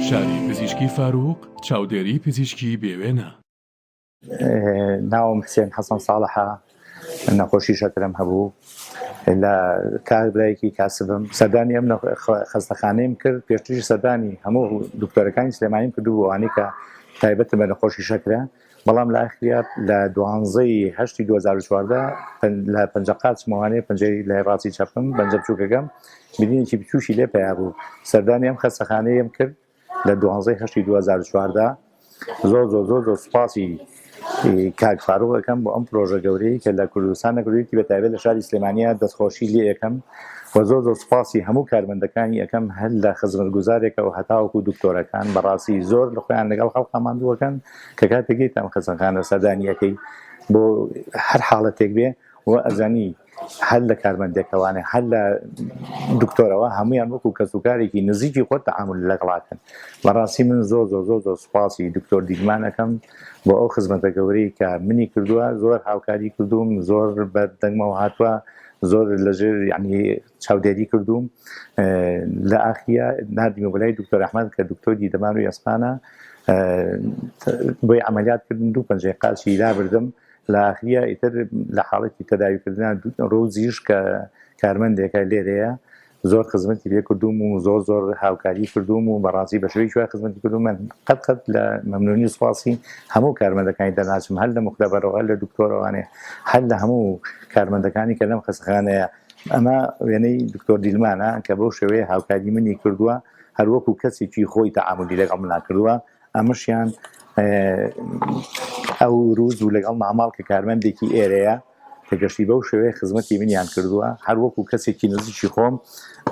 شاری پزیشکی فاروق چاودێری پزیشکی بێوێنە ناوم حسێن حەسەن ساڵحە نەخۆشی شەکرەم هەبوو لە کار برایەکی کاسبم سەردانی ئەم خەستەخانەیم کرد پێشتریش سەردانی هەموو دکتۆرەکانی سلێمانیم کردو بۆوانەی کە تایبەتە بە نەخۆشی شەکرە بەڵام لە ئەخریات لە دوانزەی هەشتی 2014 لە پنج قاچمەوانەیە پنجەی لە ڕاستی چەپم بەنجە بچووکەکەم بینینێکی بچوشی لێ پیا بوو سەردانی ئەم خەستەخانەیەم کرد لە دوانزەی هەشتی دوو هەزار و چواردە زۆر زۆر زۆر زۆر سوپاسی کاک فاروق ئەکەم بۆ ئەم پرۆژە گەورەی کە لە کوردستان نەکردویەتی بە تایبەت لە شاری سلێمانیا دەستخۆشی لێ ئەکەم و زۆر زۆر سوپاسی هەموو کارمەندەکانی ئەەکەم هەر لە خزمەتگوزارێکە و هەتاوەکو دکتۆرەکان بەڕاستی زۆر لە خۆیان لەگەڵ خەڵقا ماندووەکەن کە کاتێکیتان خزمەکانە سەردانیەکەی بۆ هەر حاڵەتێک بێ و ئەزانی هەر لە کارمەندێکەوانێ هەر لە دکتۆرەوە هەمویان وەکو کەس و کارێکی نزیکی خۆت تەعامل لەگەڵاکەن بەڕاستی من زۆر زۆر زۆر زۆر سوپاسی دکتۆر دیگمانەکەم بۆ ئەو خزمەتە گەورەی کە منی کردووە زۆر هاوکاری کردوم زۆر بە دەنگمەوە هاتووە زۆر لەژێر ینی چاودێری کردوم لە ئاخە نردیمە بەلای دکتۆر ئەحمد کە دکتۆری دەمان و ئەسپانە بۆی ئەعملیات کردن دوو پنجەی قاچی لابردم لە ئاخریا ئیتر لە حاڵەتی تەداویکردنان ڕوزیش کە کارمەندێکە لێرەیە زۆر خزمەتی لێ کردوم و زۆر زۆر هاوکاری کردوم و بەڕاستی بە شوی شوای خزمەتی کردو من قەت قەت لە مەمنونی و سوپاسی هەموو کارمەندەکانی دەناسم هەر لە مختبەرەوە هەر لە دکتۆرەوانێ هەر لە هەموو کارمەندەکانی کە لەم خەسخانەیە ئەمە وێنەی دکتۆر دیلمانە کە بەو شێوەیە هاوکاری منی کردووە هەروەکو کەسێکی خۆی تەعاملی لەگەڵ مناکردووە ئەمەشیان ئەو روز و لەگەڵ ماماڵ کە کارمەندێکی ئێرەیە کە گەشتی بەو شێوەیە خزمەتی منیان کردووە هەر وەکو کەسێکی نزیکی خۆم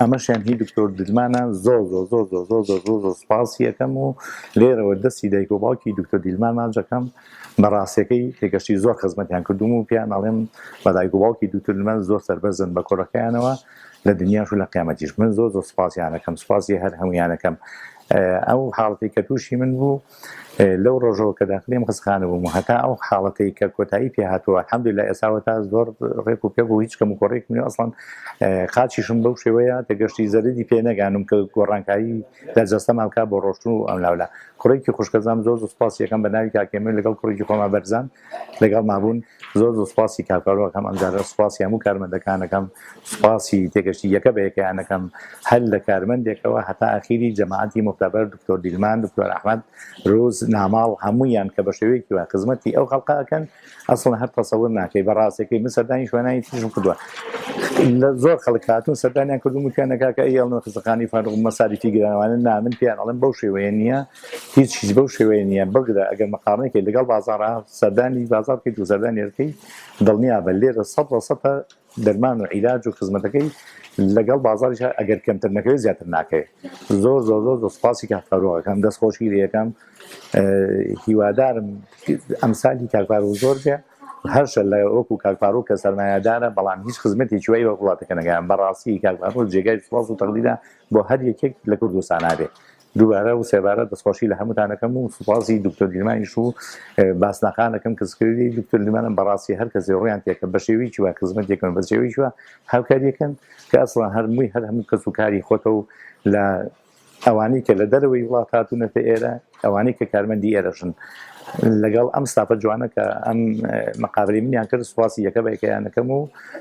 ئەمەشیان هی دکتۆر دیلمانە زۆر زۆر زۆر زۆر زۆر زۆر زۆر زۆر سپاسی یەکەم و لێرەوە دەستی دایک و باوکی دکتۆر دیلمان ماجەکەم بە ڕاستەکەی تێگەشتی زۆر خزمەتیان کردوم و پیان ئەڵێم بە دایک و باوکی دکتۆر دیلمان زۆر سربەرزن بە کۆرەکەیانەوە لە دنیاش و لە قیامەتیش من زۆر زۆر سوپاسیانەکەم سوپاسی هەر هەمویانەکەم ئەو حاڵەتی کە تووشی من بوو لەو ڕۆژەوە کە داخلیم خستخانە بووم هەتا ئەو حاڵەتی کە کۆتایی پێ هاتووە حەمد لە ئێساوە تا زۆر ڕێک و پێ بوو هیچ کەم و کۆڕێک من ئەسڵان قاچیشم بەو شێوەیە دەگەشتی زەردی پێ نەگانم کە گۆڕانکایی لە جەستەما بکە بۆ ڕۆشتن و ئەم لاولا کوڕێکی خوشکەزام زۆر سوپاس یەکەم بە ناوی کاکێمە لەگەڵ کوڕێکی خۆما بەرزان لەگەڵ مابوون زۆر زۆر سوپاسی کارفەرۆ ئەکەم ئەم جارە سوپاسی هەموو کارمەندەکان ئەکەم سوپاسی تێگەشتی یەکە بە یەکەیان ئەکەم هەر لە کارمەندێکەوە هەتا ئاخیری جەماعەتی موختەبەر دکتۆر دیلمان دکتۆر ئەحمەد روز ناماڵ هەموویان کە بە شێوەیەکی وای خزمەتی ئەو خەڵقە ئەکەن ئەسڵەن هەر تەسەور ناکەی بە ڕاستەکەی من سەردانی شوێنانی تریشم کردووە لە زۆر خەڵک هاتوون سەردانیان کردوم وتیان نەکاکە ئەی ئەڵنە خزەخانی فاروق مەساریفی گرانەوانە نا من پێیان ئەڵێم بەو شێوەیە نییە هیچیش بەو شێوەیە نییە، بگرە ئەگەر مقارنەیکەیت لەگەڵ بازاڕا، سەردانی بازاڕ بکەیت و سەردانی ئەرد بکەیت، دڵنیابە لێرە سەد لە سەد دەرمان و عیلاج و خزمەتەکەی لەگەڵ بازاڕیشا ئەگەر کەمتر نەکەوێت زیاتر ناکەوێت. زۆر زۆر زۆر زۆر سوپاسی کاک فاروق ئەکەم، دەست خۆشی لێ ئەکەم، هیوادارم ئەمسالی کاک فاروق زۆر بێ، هەرشە لە وەکو کاک فاروق کە سەرمایەدارە بەڵام هیچ خزمەتێکی وای وەک وڵاتەکە نەکەیان، بەڕاستی کاک فاروق جێگای سوپاس و تەقدیرە بۆ هەر یەکێک لە کوردستانا بێ، دووبارە و سێبارە دەستخۆشی لە هەمووتان ئەکەم و سوپاسی دکتۆر گریمانیش و باسناقان ئەکەم کە سکرتێری دکتۆر گریمانن بەڕاستی هەر کەسێ ڕوویان تێکە بە شێوەیەکی وا خزمەت یەکەن بە شێوەیەکی وا هاوکاری یەکەن کە ئەسڵەن هەر مووی هەر هەموو کەس و کاری خۆتە و لە ئەوانەی کە لە دەرەوەی وڵات هاتوونەتە ئێرە ئەوانەی کە کارمەندی ئێرەشن لەگەڵ ئەم ستافە جوانە کە ئەم مقابلی منیان کرد سوپاسی یەکە بە یەکەیان یەکەم و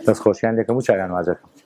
دەستخۆشیان یەکەم و چاویان واز یەکەم